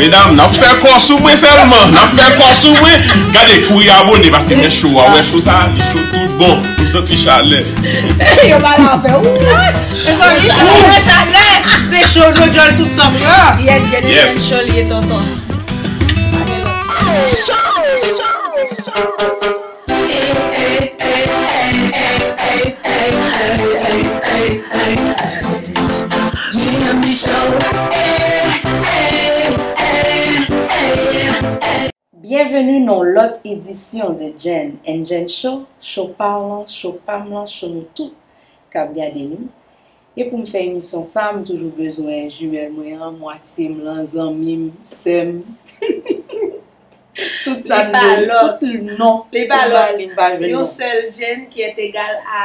Medam nap fè kò sou mwen selman Nap fè kò sou mwen Gade kouri abone paske mwen cho a Wè cho sa li cho tout bon M santi chalè Yo pa la fè ou Se cho nou djòl tout tan pran Yes gade men cho li e tonton Cho cho cho Byenveni nan yon lòt edisyon de Jenn and Jenn Show, show pa w lan, show pa m lan, show nou tout k ap gade nou. E poum fè emisyon sa m toujou bezwen jumelle mwen an, mwatye m lan, zanmi m, sè m. Tout sa m bezwen, tout non pou m ba li m pa jwenn non. Li pa lòt, yon sèl Jane ki est egal a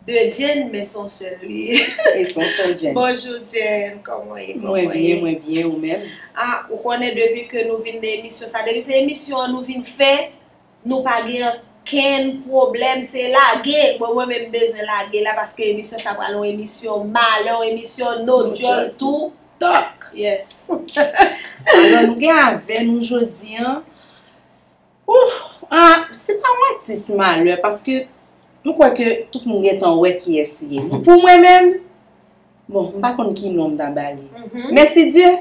2 Jane men se yon sèl li ye. E se yon sèl Jane. Bonjour Jane, kòman w ye? Mwen byen, mwen byen, ou menm? Ah, ou konnen depi ke nou vin nan emisyon sa, depi se emisyon an nou vin fè, Nou pa gen ankenn pwoblèm se lage, bon mwen menm m bezwen lage la paske emisyon sa pral yon emisyon malè yon emisyon no dyòl tou talk yes Alò nou gen avè nou jodi an Ouf se pa yon atis malè paske m kwè ke tout moun gentan wè kiyès li ye Pou mwen menm bon m pa konn ki non m ta ba li Mèsidye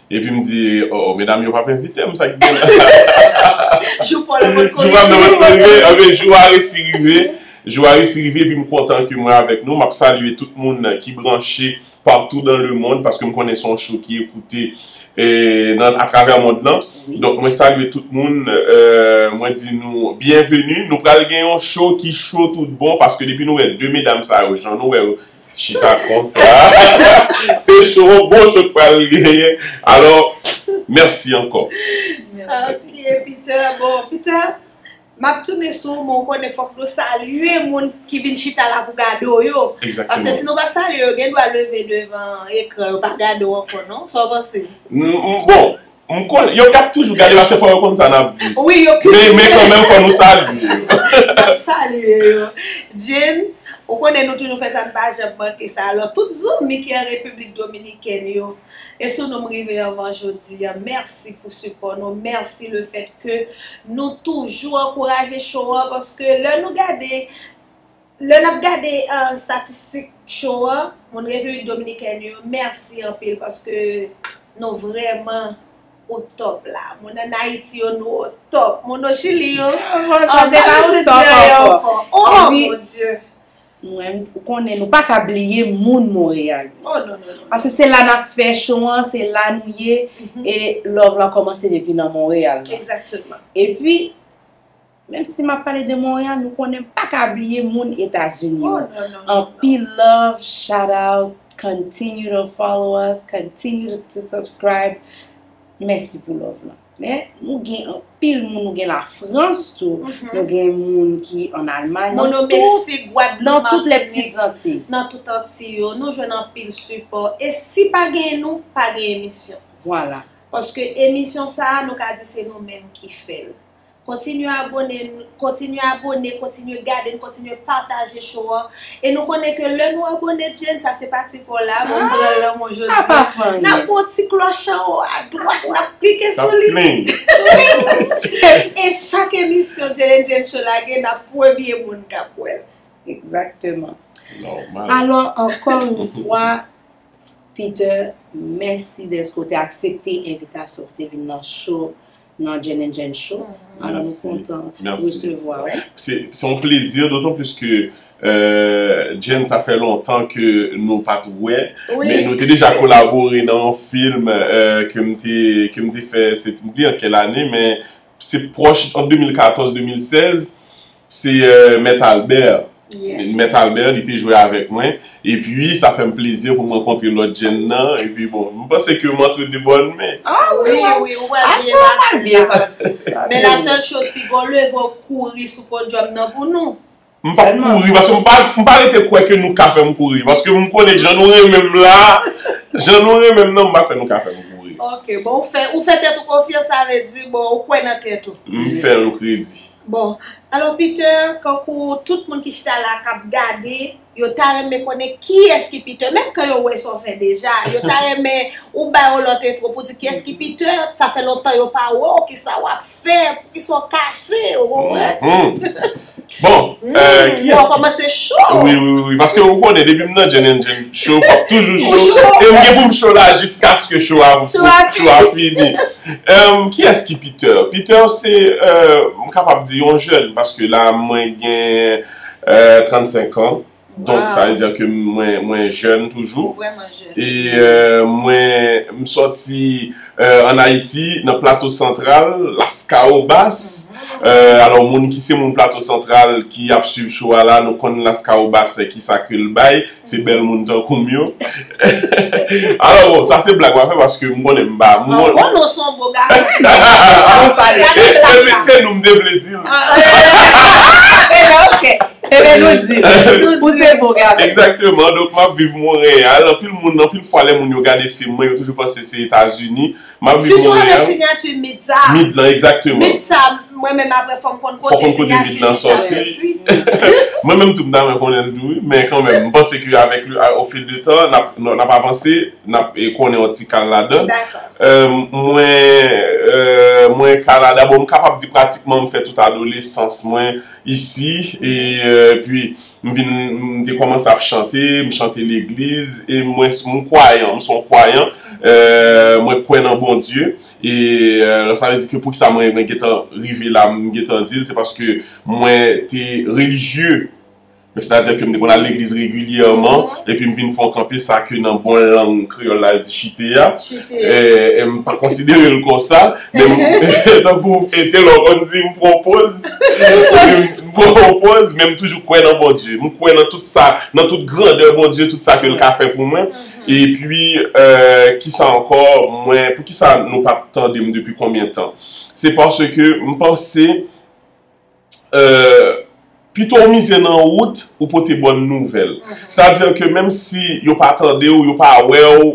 Epi m di, oh oh, medam yo p ap envite m, sa ki gen la? Jou pa w nan p ap konn rive. Anben, jou a resi rive. Jou a resi rive epi m kontan ke mwen avèk nou. M ap salye tout moun ki branche patou dan lemonn, paske m konnen se yon show ki ekoute atravè mond lan. Donk mwen salye tout moun, mwen di nou byenveni. Nou pral gen yon show ki cho tout bon, paske depi nou wè 2 medam sa yo, jan nou wè yo, Chita konsa. Se show an bon show k pral genyen. Alò mèsi ankò. Ok Peter, bon Peter m ap tounen sou ou men ou konnen fòk nou salye moun ki vin chita la pou gade w yo. Paske si nou pa salye yo gen dwa leve devan ekran yo pa gade w ankò non. Sa w panse? Bon, M konnen, yo kap toujou gade la se fò yo konn sa nap di. Wi yo ki toujou. Men kanmenm fò nou salye yo. Nap salye yo. Jane, ou konnen nou toujou fè sa n pa janm manke sa. Alò tout zanmi ki an Repiblik Dominikèn yo, e sou nou m rive anvan jodi a. Mèsi pou sipò nou, mèsi le fèt ke nou toujou ankouraje show an paske lè nou gade Lè nap gade statistik cho an moun repiblik dominikèn yo mèsi anpil paske nou vrèman o top la moun an ayiti yo nou o top moun o chili yo an se pa o top ankò oh mon Dieu. Mwen ou konnen nou paka bliye moun Montréal yo oh non non paske se la nap fè cho an se la nou ye e love lan kòmanse depi nan Montréal exactement epi Menm si map pale de Montréal nou konnen m paka bliye moun etazini yo anpil love shout out continue to follow us continue to subscribe mèsi pou love lan men nou gen anpil moun nou gen la France tou nou gen moun ki an Allemagne nan tout Mono Mexique Guadeloupe Martinique nan tout les petites Antilles nan tout Antilles yo nou jwenn anpil sipò e si pa genyen nou pa gen emisyon vwala paske emisyon sa nou ka di se nou menm ki fèl Kontinye abone n, kontinye abone, kontinye gade n, kontinye pataje show an. E nou konnen ke lè nou abone Jane, sa se pati paw la, bon m pran lan mwen jodi. Apa pran anyen. Nap pran ti klòch an wo a dwat, nap klike sou li. Nap pling. Pling! E chak emisyon Jane and Jane Show lage, nap premye moun kap wè l. Exactement. Normal. Alò ankò yon fwa Peter, mèsi dèske w te aksepte envitasyon pou te vin nan show nan Jazz and Jazz Show. Alò nou kontan resevwa ou. Se yon plezi dotan plis ke Jazz sa fè lontan ke nou pa t wè. Men nou te deja kolabore nan yon film ke m te fè se m bliye an kèl ane men se pwòch an 2014-2016. Se Mèt Albè. Mèt Albè li te jwe avèk mwen. E pi sa fè m plezi pou m rankontre lòt jenn nan. E pi bon, m panse ke m antre de bòn men. A wi, ou pral byen pase. A sa m byen pase. Men la sèl choz, pi gon leve ou kouri sou podyòm nan pou nou. M pa kouri, paske m pa rete kwè ke nou ka fè m kouri. Paske m konnen jan nou renmen m la, jan nou renmen m nan, m pa kwè nou ka fè m kouri. Ok, bon ou fè tèt ou konfyans sa vle di bon ou kwè nan tèt ou. M fè l kredi. Bon Alo Peter kankou tout moun ki chita la kap gade yo ta renmen konnen kiyès ki Peter menm kan yo wè sa w fè deja yo ta renmen ou ba yo lòt entwo pou di kiyès ki Peter sa fè lontan yo pa wè w kisa wap fè poukisa w kache ou konprann ou kòmanse cho wi wi wi paske ou konnen depi m nan Jèn en Jèn cho map toujou cho e m gen pou m cho la jiskaske cho a fini. Humm kiyès ki Peter? Peter se euh m kapab di yon jèn paske la mwen gen euh 35 ans donk sa vle dire ke mwen jèn toujou e mwen m sòti euh an Ayiti nan Plato Santral Laskawobas euh alò moun ki se moun Plato Santral ki ap swiv show a la nou konn Laskawobas kisa ke l bay Se bèl moun tankou m yo. Alò bon, sa se blag m ap fè paske m konnen m pa. M pa bon non, se yon bon gason. Se nou m te vle di l. Ebyen ok, ebyen nou di l. Ou se bon gason. Egzakteman, donk m ap viv Monreyal. Anpil moun, anpil fwa lè moun yo gade fim mwen, yo toujou panse se Etazini. Map viv Montreal. Sitou avèk signature Mid sa. Mid lan exactement. Mid sa mwen menm apre fòm konn kote signature Mid lan soti. Mwen menm tou m ta renmen konnenl tou wi men kan menm m panse ke avèk le au fil de tan nap avanse nap konnen yon ti kal ladan. Mwen mwen Canada bon m kapab di pratikman m fè tout adolesans mwen isi e pi M vin m te kòmanse ap chante, m chante legliz e mwen m kwayan, m se yon kwayan e mwen kwè nan Bondye e sa vle di ke poukisa mwen mwen gentan rive la m gentan di l se paske mwen te relijye men sètadi ke m te konn al legliz regilyèman epi m vin fè yon kanpe sa ke nan bon lang kreyòl la yo di chite a e m pa konsidere l konsa tankou Ethelor konn di m pran poz. Bon pòz men m toujou kwè nan Bondye m kwè nan tout sa nan tout grandè Bondye tout sa ke l ka fè pou mwen epi kisa ankò mwen poukisa nou pa p tande m depi konbyen tan se paske m panse pito w mize nan wout ou pote bòn nouvèl sètadi ke menm si yo pa tande w yo pa wè w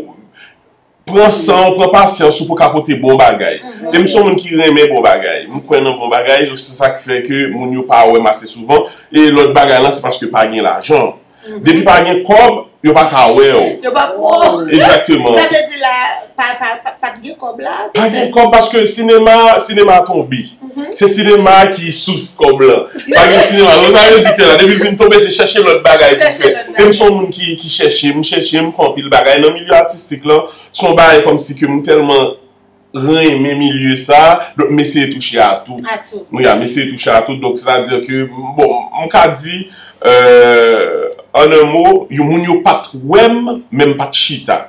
Pran san ou, pran pasyans ou pou ka pote bon bagay. E m se yon moun ki renmen bon bagay. M kwè nan bon bagay, donk se sa k fè ke moun yo pa wè m ase souvan. E lòt bagay lan se paske pa gen lajan. Depi pa gen kòb, yo pa ka wè w. Yo pa ka wè w. Egzakteman. Sa vle di la, pa gen kòb la? Pa gen kòb paske sinema, sinema tonbe. Se sinema a ki sous kòb lan. Pa gen sinema. Ou sa yo di kè la. Depi l fin tonbe se chèche lòt bagay pou fè. E m s on moun ki chèche. M chèche, m fè anpil bagay. Nan milye atistik lan, s on bagay kòmsi ke m tèlman renmen milye sa a. Donk m eseye touche a tout. A tout. Wi a, m eseye touche a tout. Donk sètadi ke, bon, m ka di, an un mo, yo moun yo pa t wè m, men m pa t chita.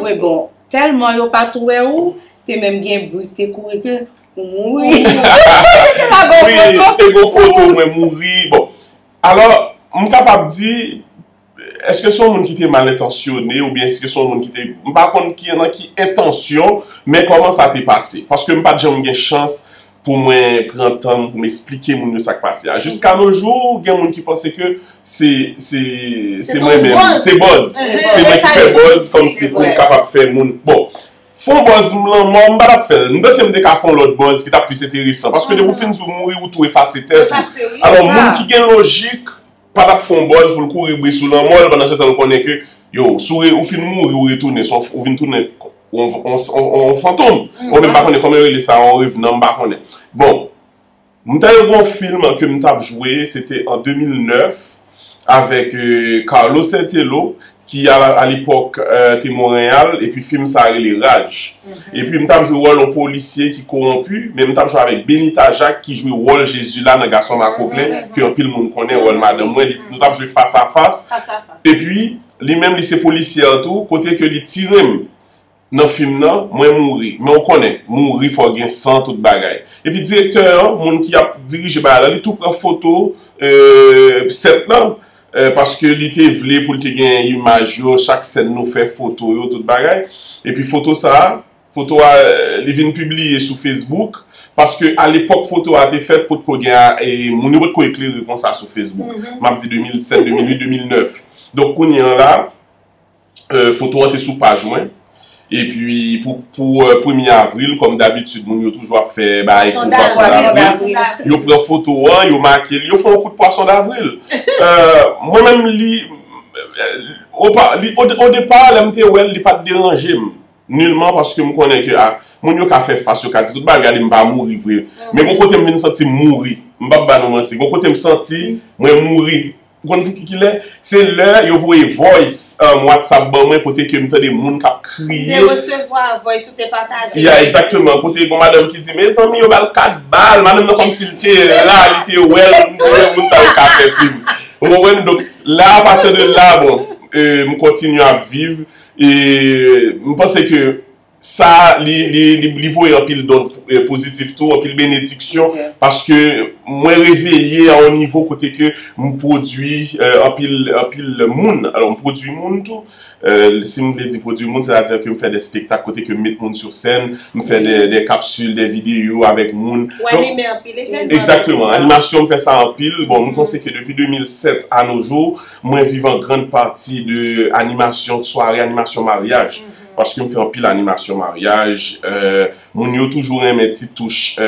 Wi bon, tèlman yo pa t wè ou, te menm gen bri k te kouri ke, Wi, te gon foto mwen mouri. Bon, alò, m kapab di, eske son moun ki te mal entansyone ou byen eske son moun ki te, m pa konn ki nan ki entansyon, men kòman sa te pase. Paske m pa t janm gen chans pou mwen pran tan m pou m esplike moun yo sa k pase a. Jiska no jou, gen moun ki panse ke se, se, se mwen menm. Se bòz. Se mwen ki fè bòz, kòm si pou m kapab fè moun. Bon. Fon buzz m lanmò m pa tap fèl. M panse m te ka fon lòt buzz ki tap plis enteresan paske depi w fin di w mouri ou tou efase tèt ou. Alò moun ki gen lojik pa tap fon buzz pou l kouri bri sou lanmò l pandan se tan l konnen ke yo sou ou fin mouri ou retounen son ou vin tounen on fantom mwen menm m pa konnen kòman yo rele sa on revenan m pa konnen bon. M ta yo gon film ke m tap jwe se te an 2009 avèk Carlo Sertello ki a lepòk te Monreyal epi film sa rele Raj epi m tap jwe wòl yon polisye ki kowonpi men m tap jwe avèk Benita Jacques ki jwe wòl Jezila nan Gason Makoklen ke anpil moun konnen wòl madanm mwen li nou tap jwe fas a fas epi li menm li se polisye an tou kote ke li tire m nan fim nan mwen mouri men ou konnen mouri fò gen san tout bagay epi direktè an moun ki ap dirije bagay lan li tou pran foto sèt lan paske li te vle pou l te gen imaj yo chak sèn nou fè foto yo tout bagay epi foto sa foto a li vin pibliye sou facebook paske a lepòk foto a te fèt potko gen moun yo potko eklere konsa sou facebook m ap di 2007 2008 2009 donk kounye an la. foto an te sou paj mwen epi pou premye avril kòm dabitid moun yo toujou ap fè bagay pou pwason davril yo pran foto an yo make l yo fè yon kout pwason davril mwen menm li o depa lè m te wè l li pat deranje m nilman paske m konnen ke a moun yo ka fè fas yo ka di tout bagay gade m pa mouri vre men gon kote m vin santi m mouri m pap ba nou manti gon kote m santi mwen mouri. Ou konn pou ki lè? Se lè yo voye voice WhatsApp ban mwen kote ke m tande moun k ap kriye. Ou te resevwa voice ou te pataje. Yeah, exactement. Kote gon madanm ki di, Mezanmi yo ba l 4 bal. Madanm nan kòmsi l te la, li te wè l. M konnen moun sa yo ka fè film. Ou konprann? Donk, la, a pati de la, bon, m kontinye ap viv. E, m panse ke. Sa li voye anpil don pozitif tou, anpil benediksyon paske mwen reveye a yon nivo kote ke m pwodui anpil moun. Alò m pwodui moun tou. Si m vle di pwodui moun, sètadi ke m fè de spektak kote ke m met moun sou sèn, m fè de kapsil, de videyo avèk moun. Ou anime anpil evènman tou. Egzakteman. Animasyon m fè sa anpil. Bon, m panse ke depi 2007 a no jou, mwen viv an grand pati de animasyon, sware animasyon maryaj. Paske yo fè anpil animasyon maryaj, moun yo toujou renmen ti touch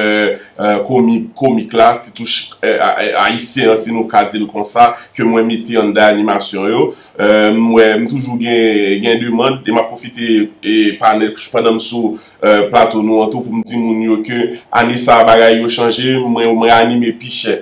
komik la, ti touch ayisyen an si nou ka di l konsa, ke mwen mete anndan animasyon yo. M wè m toujou gen demand, e m ap pwofite pandan m sou plato nou an tou pou m di moun yo ke ane sa a bagay yo chanje, mwen anime pi chè.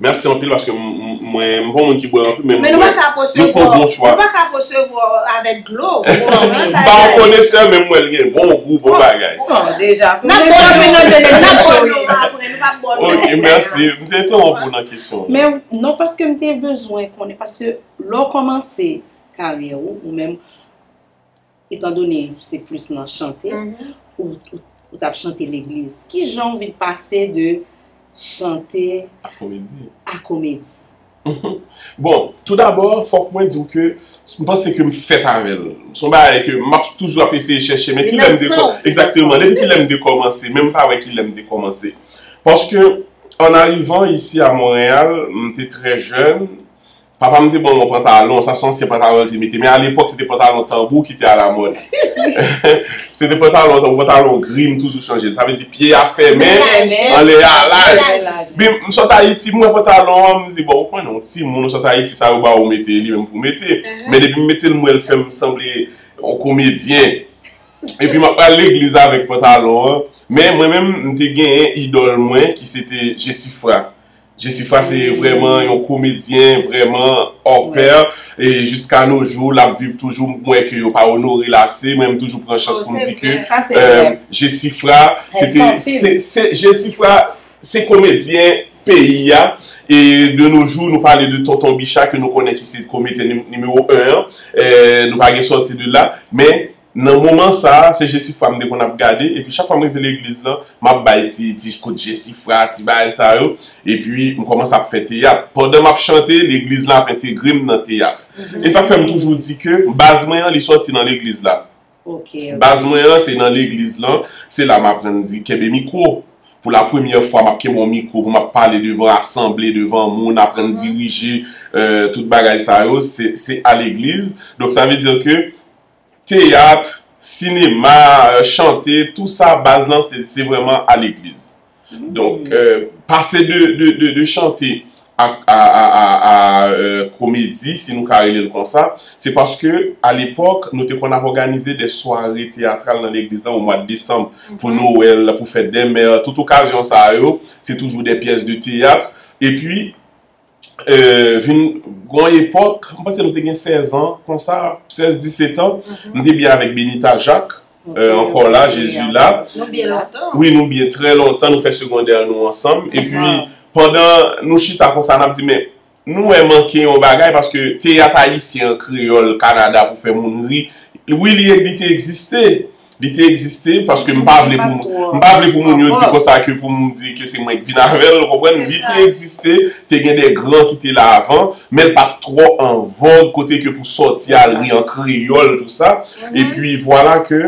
Merci anpil paske mwen m pa yon moun ki bwè anpil men mwen bwè yon fo bon chwa. Nou pa ka po se vo avek dlo. M pa yon konesè men m wè l gen bon gou bon bagay. Bon deja pou nou nan vin nan jenere sa cho wi. Ok merci m te entewonp ou nan kesyon ou. Men non paske m te bezwen konnen paske lè w komanse karyè ou ou menm. Etan done se plis nan chante ou tap chante legliz, ki jan ou vin pase de chante a komedi? Bon, tou dabò fòk mwen diw ke m panse ke m fèt avèl. Son bagay ke m ap toujou ap eseye chèche men kilè m te kòmanse. Exactement, depi kilè m te kòmanse men m pa wè kilè m te kòmanse. Paske an arivan isi a Montréal, m te trè jèn, Papa m te ban mwen yon pantalon, sa se yon ansyen pantalon li te mete, men alepòk se te pantalon tanbou ki te alamòd. Se te pantalon tanbou, pantalon gri, m toujou chanje l. Sa vle di pye a fèmen, anlè a laj. Bi m sot Ayiti, m wè pantalon an, m di bon, ou konnen yon timoun, ou sot Ayiti, sa yo ba ou mete, e li menm pou w mete. Men depi m mete l, m wè l fè m sanble yon komedyen. Epi m ap pral legliz avèk pantalon an. Men mwen menm, m te genyen idòl mwen ki se te Jesifra. Jesifra se vrèman yon komedyen vrèman hors pair e jiska no jou lap viv toujou m kwè ke yo pa onore l ase mwen m toujou pran chans pou m di ke Jesifra se te se Jesifra se komedyen peyi a e de no jou nou pale de tonton Bicha ke nou konnen ki se komedyen nimewo 1 an nou pa gen sòti de la men Nan moman sa a, se Jesifra m te konn ap gade, epi chak fwa m rive legliz lan, m ap bay ti, ti kout Jesifra, ti bagay sa yo, epi m kòmanse ap fè teyat. Pandan m ap chante, legliz la ap entegre m nan teyat. E sa k fè m toujou di ke baz mwen an, li sòti nan legliz la. Baz mwen an, se nan legliz lan, se la m aprann di kenbe mikwo. Pou lapremyè fwa, m ap kenbe yon mikwo pou m ap pale devan asanble, devan moun, aprann dirije, tout bagay sa yo, se a legliz. Donk sa vle di ke teyatr, sinema, chante tou sa baz lan se vreman a legliz. Donk pase de chante a komedi si nou ka rele l konsa, se paske a lepok nou te konn ap oganize de sware teyatral nan legliz lan o mwad desanm pou nowel, pou fet de mer, tout okazyon sa yo se toujou de pyes de teyatr. E pi vin gon epòk, m panse nou te gen 16 an konsa, 16, 17 an, m te byen avèk Benita Jacques, ankò la, Jezi la. Nou byen lontan. Wi, nou byen trè lontan, nou fè segondè nou ansanm. E pi, pandan nou chita konsa, n ap di men, nou wè manke yon bagay, paske teyat ayisyen an kreyòl Kanada pou fè moun ri, wi li te egziste, Li te egziste paske m pa vle pou m pa vle pou moun yo di konsa ke pou m di ke se mwen ki vin avè l, ou konprann. Li te egziste, te gen de gran ki te la avan, men l pa t twò an vòg kote ke pou sòti al ri an kreyòl tou sa. E pi vwala ke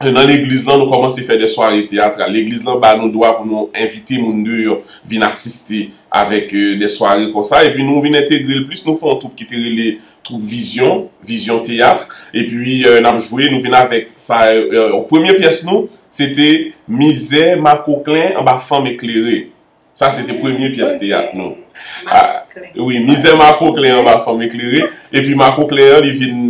nan legliz lan nou kòmanse fè de sware teyatral. Legliz lan ba nou dwa pou nou envite moun deyò vin asiste avèk de sware konsa. E pi nou vin entegre l plis, nou fè yon twoup ki te rele Twoup Vizyon, Vision Théâtre, epi n ap jwe, nou vin avèk sa yo, premye pyès nou, se te Mizè makoklen anba fanm eklere. Sa se te premye pyès teyat nou. Wi, Mizè makoklen anba fanm eklere. Epi makoklen an, li vin,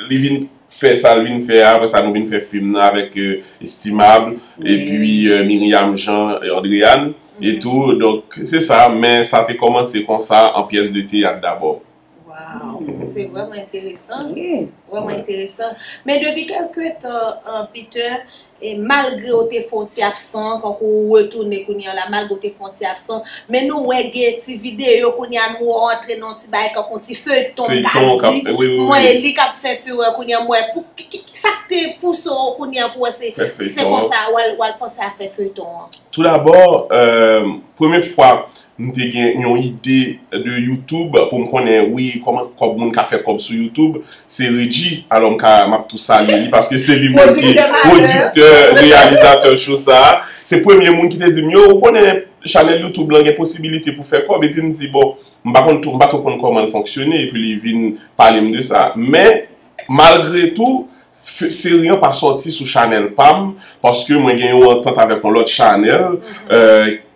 li vin fè sa l vin fè a, apre sa nou vin fè fim nan avèk Estimable, epi Myriam Jean, Andréane, etou, donk, se sa, men sa te kòmanse konsa, an pyès de teyat dabò. Waw se vreman enteresan vreman enteresan men depi kelke tan an Peter e malgre ou te fè yon ti absan tankou ou retounen kounye an la malgre ou te fè yon ti absan men nou wè gen ti video kounye an nou rantre nan yon ti bagay tankou yon ti feyton m ka di m wè e li kap fè fureur kounye an m wè pou sak te pouse w kounye an pou wè se se konsa wal panse a fè feyton an? Tou dabò premye fwa M te gen yon ide de youtube pou m konnen wi koman kob moun ka fè kob sou youtube se Redji alò m ka map tou salye li paske se li menm ki pwodiktè reyalizatè show sa se premye moun ki te di m yo ou konnen chanèl youtube lan gen posibilite pou fè kob epi m di bon m pa konn m pa tou konn koman l fonksyone epi li vin pale m de sa men malgre tou Seri an pa sòti sou chanèl pam paske mwen gen yon antant avèk yon lòt chanèl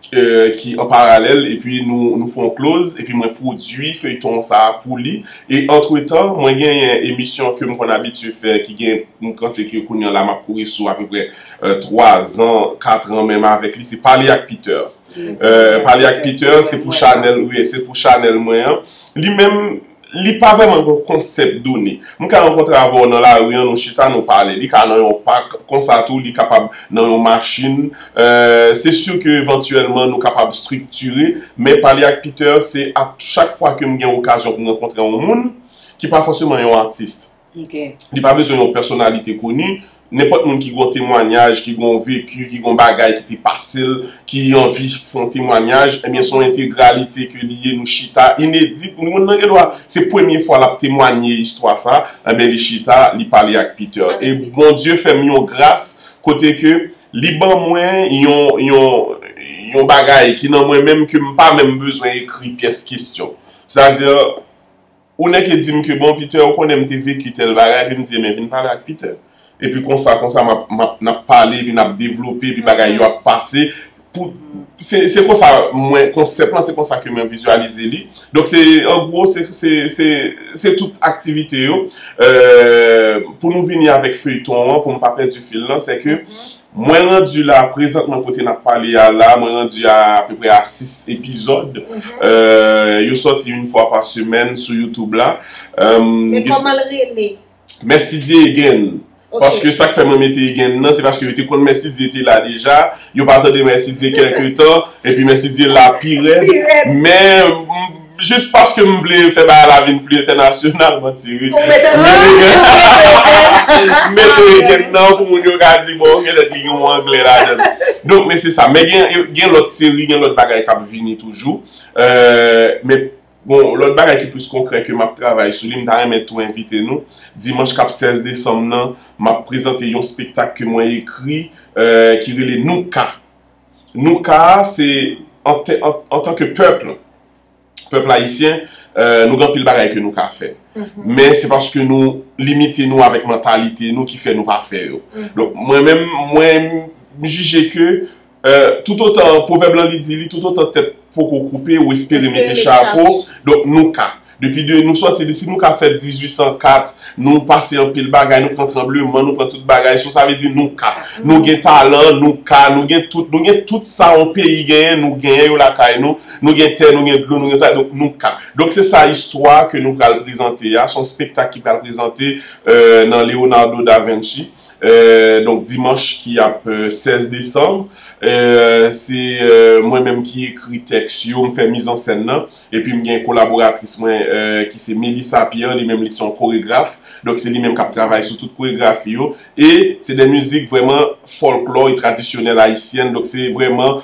ki an paralèl epi nou fè yon kloz epi mwen pwodui feyton sa pou li e antretan mwen genyen emisyon ke m konn abitye fè ki gen m panse ke kounye la m ap kouri sou apeprè 3 zan 4 ran menm avèk li se pale ak Peter pale ak Peter se pou chanèl wi se pou chanèl mwen an li menm Li pa vrèman gen yon konsèp done. M ka rankontre avè w nan lari an nou chita nou pale. Li ka nan yon pak, konsa tou li kapab nan yon machin. Se si ke evantyèlman nou kapab striktire, men pale ak Peter se a chak fwa ke m gen okazyon pou m rankontre yon moun ki pa fòseman yon artiste. Li pa bezwen yon pèsonalite koni. Nenpòt moun ki gen yon temwanyaj, ki gen yon veki, ki gen yon bagay ki te pase l, ki anvi fè yon temwanyaj, ebyen se yon entegralite ke li ye, nou chita, inedit, moun nan gen dwa, se premye fwa l ap temwanye istwa sa, ebyen li chita, li pale ak Peter. E Bondye fè m yon gras kote ke li ban mwen yon, yon, yon bagay ki nan mwen menm ke m pa menm bezwen ekri pyès kestyon. Sètadi. Ou nèke di m ke bon Peter ou konnen m te veki tèl bagay epi m di enben vin pale ak Peter. Epi konsa konsa m ap m ap n ap pale epi n ap devlope epi bagay yo ap pase pou se se konsa mwen konsèp lan se konsa ke mwen vizyalize li donk se an gwo se se se se tout aktivite yo. Pou nou vini avèk feyton an pou m pa pèdi fil lan sè ke Mwen randu la prezantman kote nap pale a la mwen randu a apeprè a 6 epizòd yo sòti yn fwa pa semèn sou youtube la Men kòmanl rele? Mèsidye Again paske sak fè mwen mete Again nan se paske yo te konn Mèsidye te la deja yo pa tande Mèsidye kèlke tan epi Mèsidye la pirèd men Jis paske m vle fè bagay la vin pli entènasyonal mwen ti ri. M mete eken nan pou moun yo ka di bon ok lèt li gen yon anglè ladan l. Donk men se sa. Men gen lòt seri, gen lòt bagay k ap vini toujou. Men bon lòt bagay ki plis konkrè ke m ap travay sou li m ta renmen tou envite nou. Dimanch k ap 16 desanm nan m ap prezante yon spektak ke mwen ekri ki rele Nou Ka. nou ka a se antan ke pèp, pèp ayisyen, nou gen anpil bagay ke nou ka fè. Men se paske nou limite nou avèk mantalite nou ki fè nou pa fè yo. Donk mwen menm, mwen jije ke toutotan, pwovèb lan li di li, toutotan tèt poko koupe ou espere mete chapo, donk nou ka. Depi de nou sòti li, si nou ka fè 1804, nou pase anpil bagay, nou pran tranbleman, nou pran tout bagay, so sa vle di nou ka. Nou gen talan, nou ka, nou gen tout, nou gen tout sa yon peyi genyen, nou genyen yo lakay nou, nou gen tè, nou gen dlo, nou gen travay, donk nou ka. Donk se sa istwa ke nou pral prezante a, se yon spektak ki pral prezante nan Leonardo Da Vinci, donk dimanch ki ap 16 desanm, se mwen menm ki ekri tèks yo, m fè mizansèn nan. Epi m gen kolaboratris mwen ki se Melissa Pierre, li menm li se yon koregraf. Donk se li menm k ap travay sou tout koregrafi yo. E se de mizik vrèman fòlklò e tradisyonèl ayisyèn. Donk se vrèman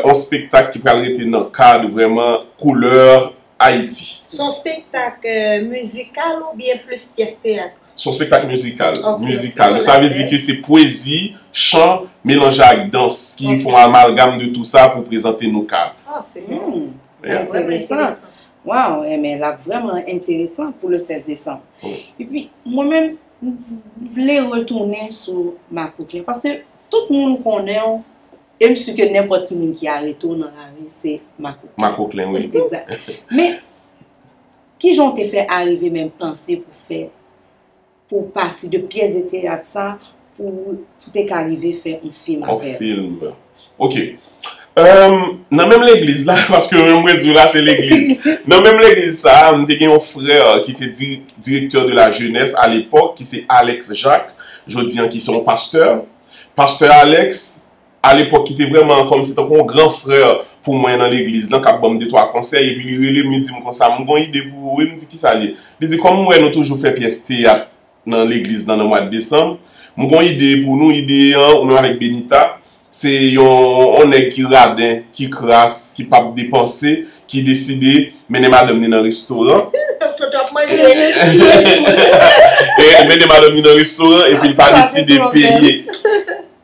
yon spektak ki pral rete nan kad vrèman koulè Ayiti. Se yon spektak mizikal oubyen plis pyès teyat? Se yon spektak mizikal. Mizikal. Sa vle di ke se pwezi, chan, melanje ak dans ki fè yon amalgam de tou sa pou prezante nou ka. Ah, se bon. Sa enteresan. Waw, enben, lap vreman enteresan pou le 16 desanm. E pi, mwen menm, m vle retounen sou makout lan. Pase, tout moun konnen w, e m si ke nenpòt ki moun ki arete w nan lari, se makout lan. Makout lan, wi. Ekzat. Men, Kijan w te fè arive menm panse pou fè, pou w pati de pyès de teyat sa pou w te ka rive fè yon fim avè l? Yon film. Ok. Emm, nan menm legliz la, paske menm mwen di w la se legliz. Nan menm legliz sa a, m te gen yon frè ki te direktè de la jenès a lepòk ki se Alex Jacques, jodi an ki se yon pastè. Pastè Alex a lepòk ki te vrèman kòmsi tankou yon gran frè pou mwen nan legliz lan k ap ban m detwa konsèy epi li rele m li di m konsa m gon ide pou ou wi m di kisa l ye li di kòm m wè nou toujou fè pyès teyat nan legliz lan nan mwad desanm m gon ide pou nou ide an ou menm avèk Benita se yon on nèg ki raden ki kras ki p ap depanse ki deside mennen madanm ni nan restoran mennen madanm ni nan restoran epi l pa deside peye.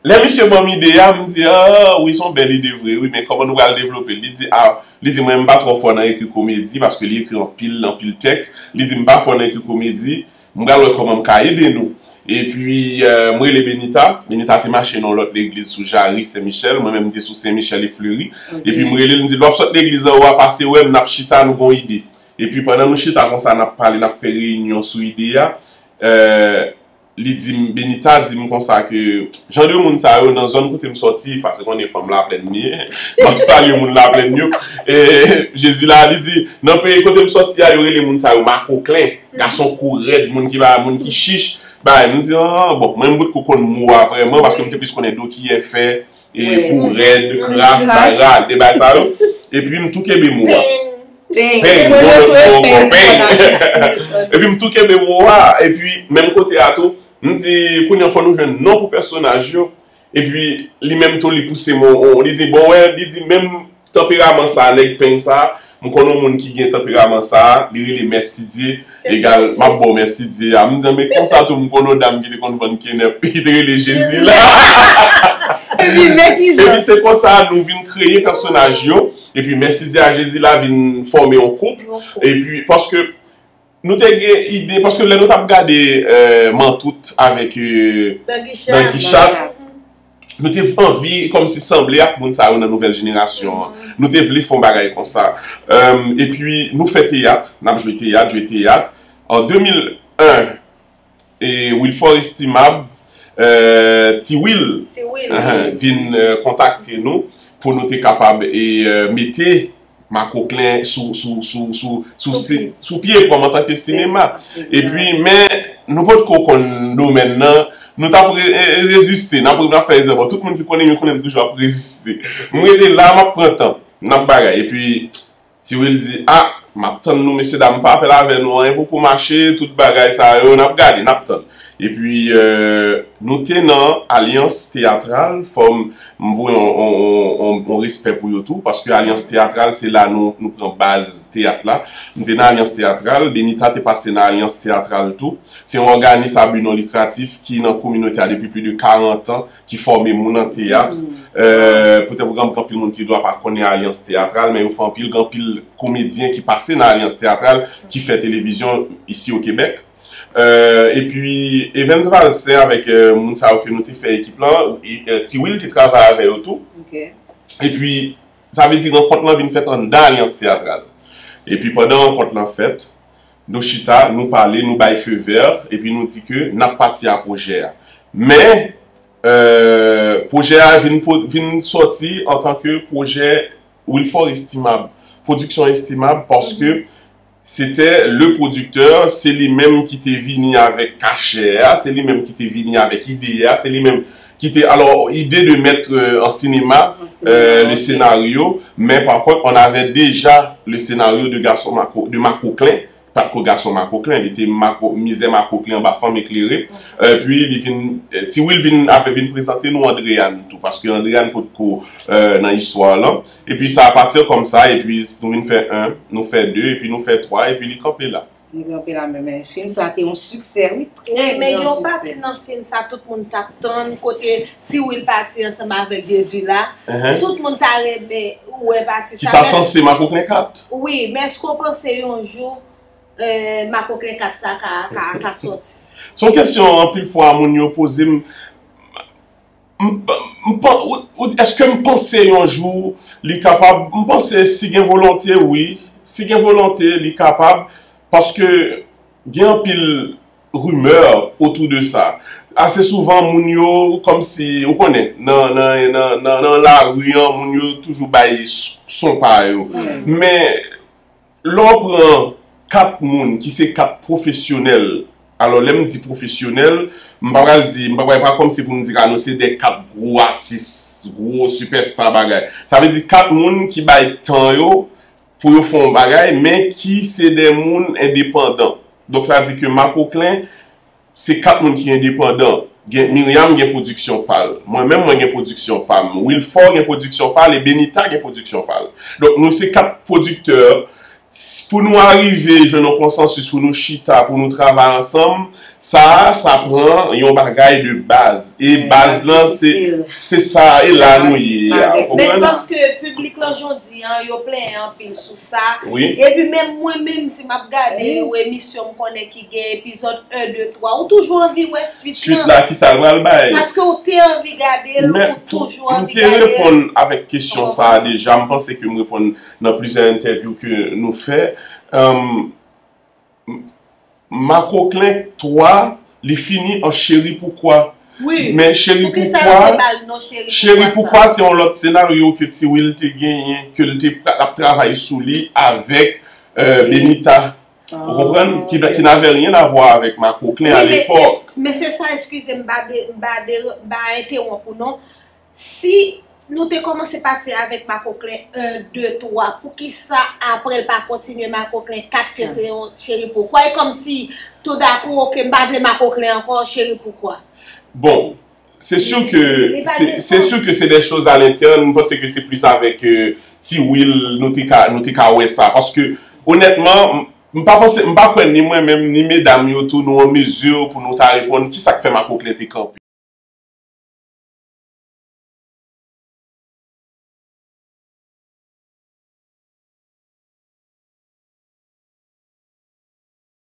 Lè misye banm ide a, m di ah wi son bèl ide vre wi men kòman nou pral devlopel? Li di ah li di mwen m pa twò fò nan ekri komedi paske li ekri anpil anpil tèks, li di m pa fò nan ekri komedi, m pral wè kòman m ka ede nou. Epi m rele Benita, Benita te mache nan yon lòt legliz sou Jarry Sen Michèl, mwen menm m te sou Sen Michèl e Fleri, epi m relel m di lè wap sot legliz anwo a pase wèm nap chita nou gon ide. Epi pandan nou chita konsa nap pale nap fè reyinyon sou ide a, eh. li di m, Benita di m konsa ke jan de moun sa yo nan zòn kote m sòti, pase konnen fanm Laplèn m ye, m ap salye moun Laplèn yo, e Jezi la, li di, nan peyi kote m sòti a, yo rele moun sa yo makoklen, gason kou rèd, moun ki ba, moun ki chich, bay. M di, an, bon, mwen m potko konn mo a vrèman, paske m te plis konnen do kiyè fè, Kou rèd, kras, bay rad, e bay sa yo. Epi m tou kenbe mo a. Peny. Peny. Gwo lòt mo ankò. Peny. Epi m tou kenbe mo a. Epi menm kote a tou, m di kounye an fò nou jwenn non pou pèsonaj yo. Epi li menm tou li pouse mo a. Li di bon wè, li di menm Tanperaman sa nèg peng sa m konn on moun ki gen tanperaman sa li rele mèsidye egal map baw mèsidye a m di men konsa tou m konn on dam ki te konn vann kenèp ki te rele jezi la epi se konsa nou vin kreye pèsonaj yo epi mèsidye a jezi la vin fòme on koup epi paske Nou te gen ide, paske lè nou tap gade Mantout avèk Danguichat, nou te anvi kòm si sanble ak moun sa yo nan nouvèl jenerasyon an. Nou te vle fon bagay konsa. E pi nou fè teyat, nap jwe teyat, jwe teyat. An 2001. Wilfort Estimable, Ti Wil, vin kontakte nou pou nou te kapab mete Makoklen sou pye kòm antanke sinema. E pi men nou pot ko konn domèn nan, nou tap reziste, nap fè rezèv. Bon, tout moun ki konnen m yo konnen m toujou ap reziste. M rete la, m ap pran tan, m ap bagay. E pi Ti Wil di, Ah! M ap tann nou mesye dam, m pa pè avè nou, anyen poko mache, tout bagay sa yo, n ap gade, n ap tann. Epi, nou te nan Alyans Teyatral, fò m voye yon respè pou yo tou, paske Alyans Teyatral se la nou pran baz teyat la. M te nan Alyans Teyatral, Benita te pase nan Alyans Teyatral tou. Se yon òganis a bi non likratif ki nan kominote a depi pli de karantan, ki fòme moun an teyat. Poutèt pou granpil anpil moun ki dwa pa konnen alyans teyatral, men yo fè anpil, gen anpil komedyen ki pase nan alyans teyatral, ki fè televizyon isi o Kebèk. Epi Evens Valcin avèk moun sa yo ke nou te fè ekip lan, Ti Wil te travay avè yo tou. Epi sa vle di rankont lan vin fèt anndan alyans teyatral. Epi pandan rankont lan fèt, Nou chita, nou pale, nou bay feu vert epi nou di ke nap pati a pwojè a. Men, pwojè a vin vin sòti an tan ke pwojè Wilfort Estimable, Production Estimable paske se te le producteur, se li menm ki te vini avèk kachè a, se li menm ki te vini avèk ide a, se li menm. ki te alò ide de mèt an sinema le senaryo men pa kont on avè deja le senaryo de gason mako de makoklen pat ko gason makoklen li te mako mizè makoklen anba fanm eklere epi li vin ti wil vin avè vin prezante nou andreyann tou paske andreyann pot ko nan istwa lan epi sa apati kòm sa epi nou vin fè 1 nou fè 2 epi nou fè 3 epi li kanpe la. Li ranpe la menm men fim sa te yon siksè wi trè gran siksè. Wi men gen yon pati nan fim sa tout moun tap tann kote ti wil pati ansanm avèk jezi la tout moun ta renmen wè pati sa. Ki ta sanse makoklen 4. Wi men èske w panse yon jou makoklen 4 sa ka soti. Son kesyon anpil fwa moun yo poze m. M pan, ou di eske m panse yon jou li kapab, m panse si gen volonte wi, si gen volonte li kapab paske gen anpil rimè otou de sa. Ase souvan moun yo kòm si, ou konnen, nan lari an moun yo toujou bay son pa yo. Men. Lè w pran 4 moun ki se 4 pwofesyonèl, alò lè m di pwofesyonèl, m pa pral di, m pa pral, e pa kòmsi pou m di Kano se de 4 gwo atis, gwo sipèsta bagay. Sa vle di 4 moun ki bay tan yo pou yo fè yon bagay men ki se de moun endepandan. Donk sa di ke Makoklen Se 4 moun ki endepandan. Gen Myriam gen pwodiksyon pa l. Mwen menm mwen gen pwodiksyon pa m. Wilfort gen pwodiksyon pa l e Benita gen pwodiksyon pa l. Donk nou se 4 pwodiktè. Pou nou arive jwenn yon konsansis pou nou chita, pou nou travay ansanm, sa a, sa pran yon bagay de baz. E baz lan se se sa a e la nou ye a. Ou konprann? Men se paske piblik lan jodi an, yo plenyen anpil sou sa. Epi menm mwen menm si m ap gade yon emisyon m konnen ki. Gen epizòd 1, 2, 3. Ou toujou anvi wè swit lan. Swit la kisa l pral bay. Paske ou te anvi gade l, ou toujou anvi gade l. Men, m te reponn avèk kesyon sa a deja. M panse ke m reponn nan plizyè entèvyou ke nou fè. Makoklen 3, li fini an Cheri poukwa. Wi, poukisa yo te ba l non Cheri poukwa sa. Cheri poukwa se yon lòt senaryo ke Ti Wil te genyen, ke l te ap travay sou li avèk Benita. Ou konprann? Ki ki n'avè ryen avwa avèk makoklen a lepòk. Wi men se sa eskize m pa de m pa de m pa entewonp ou non. Si nou te kòmanse pati avèk makoklen 1, 2, 3 poukisa aprè l pa kontinye makoklen 4 ke se yon cheri poukwa e kòmsi toudakou ok m pa vle makoklen ankò cheri poukwa. Bon, Se sur ke, se sur ke se des choses à l'interne, m panse ke se plus avèk Ti Will nou te ka, nou te ka wè sa. Paske, onètman, m pa panse, m pa kwè ni mwen menm, ni medam yo tou nou an mesure pou nou ta reponn ki sa k fè Makoklen te kanpe.